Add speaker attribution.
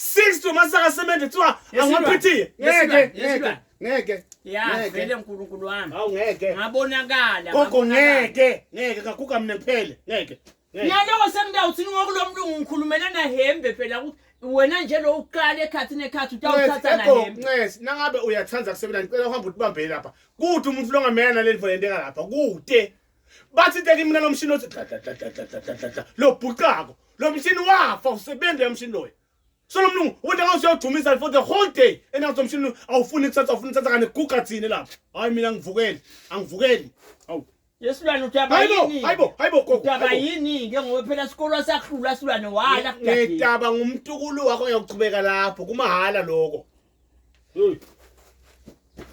Speaker 1: 60 masaka semente kuthiwa angaphithiye ngeke ngeke ngeke ya
Speaker 2: vele uNkulunkulu wami awu ngeke
Speaker 1: ngabonakala gogo
Speaker 2: ngeke
Speaker 1: ngeke kaguga mina kuphele ngeke ngiyaloko
Speaker 2: sengidawuthi ngokulomlungu ngikhulumela nahembe phela ukuthi wena nje lo uqala ekhathini ekhathi utawuthatha nahembe ncesi nangabe uyathanda
Speaker 1: kusebenza ngicela uhambe utibambele lapha kude umuntu longamela naleli volenteka lapha kude bathi teki mina lo mshini othi dladladladladladladla lo bhuqako lo mshini wafa usebenza lo mshini loyo so lo mlungu wonke ngathi uyawudumisa for the whole day and ngathi umshini awufuni ukuthatha awufuni ukuthatha kane guga thini lapho hayi mina ngivukeli angivukeli awu yesilwane udaba
Speaker 2: yini hayibo hayibo gogo udaba
Speaker 1: yini ke
Speaker 2: ngoba phela isikolo sakhula silwane wala ngidaba
Speaker 1: ngumtukulu
Speaker 2: wakho
Speaker 1: uyakuchubeka lapho kumahhala lokho